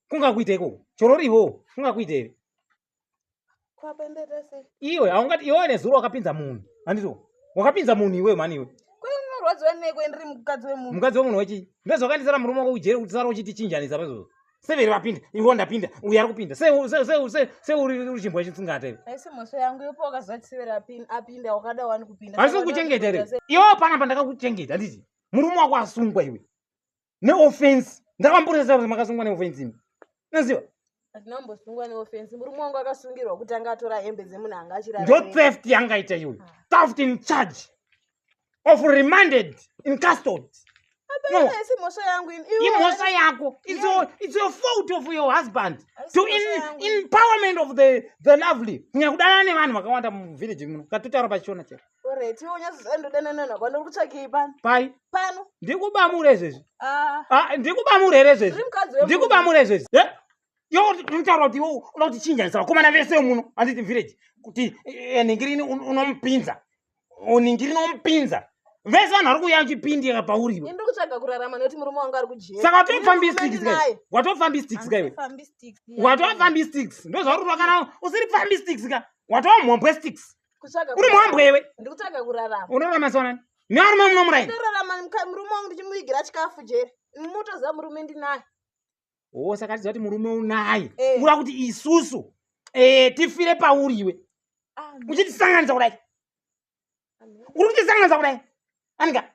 kungakuita ikoko choro rivo kungakuita ive iwe haungati iwe nezuro wakapinza munhu handito wakapinza munhu iwe mani iwe mukadzi wemunhu wechii ndozvakandisara murume wako kujere kuti sara uchitichinjanisa paizvozvo severi vapinda ivo ndapinda uyu ari kupinda seuri chimbwa chitsingata ive asi kuchengeta iwe iwe panapa ndakakuchengeta handiti murume wako asungwa iwe neoffense ndakamboresera kuti makasungwa neoffense imi noziva ndinambosungwa neoffense murume wangu akasungirwa kuti anga atora hembe dzemunhu anga achira ndo theft yanga ita iyoyo ah. theft in charge of remanded in custody imhosva yangu imhosva yako its your fault of your husband to empowerment of the, the lovely kunyanya kudanana nevanhu vakawanda muvillage muno katotaura pachishona chete Alright, iwe unyazozana ndodanana nako ndiri kutsvakei pano. Pai? Pano. Ndikubamure izvezvi. Ah. Ah, ndikubamure here izvezvi? Ndikubamure izvezvi. Eh? Yo unotaura kuti iwe unoda kuti chinja isa vakomana vese muno handiti village kuti eh, eh, ningirini unomupinza. Uningirino umpinza. Vese vanhu vari kuuya chipindi yaka pauri iwe. Ndiri kutsvaga kurarama nekuti murume wangu ari kujeri. Saka watofambi sticks kai. Watofambi sticks kai. Watofambi sticks. Ndozvauri kana usiri fambi sticks ka. Watofambi sticks. uri muhambwe iwe ndikutsvaga kurarama unorarama sonani nevarume muno murai ndorarama murume wangu ndichimuvigira chikafu jeri mutoziva murume ndinaye o saka tiziva kuti murume unaye eh. ura kuti isusu eh, tifire pauri iwe ah, uchitisanganisa kudai uri kutisanganisa kudai anika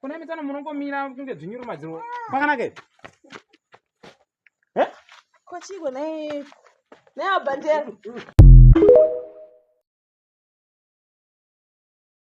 kuna mitano munongomira kunge dzvinyuru madziro kwakanaka here kochiko naye naye abhandera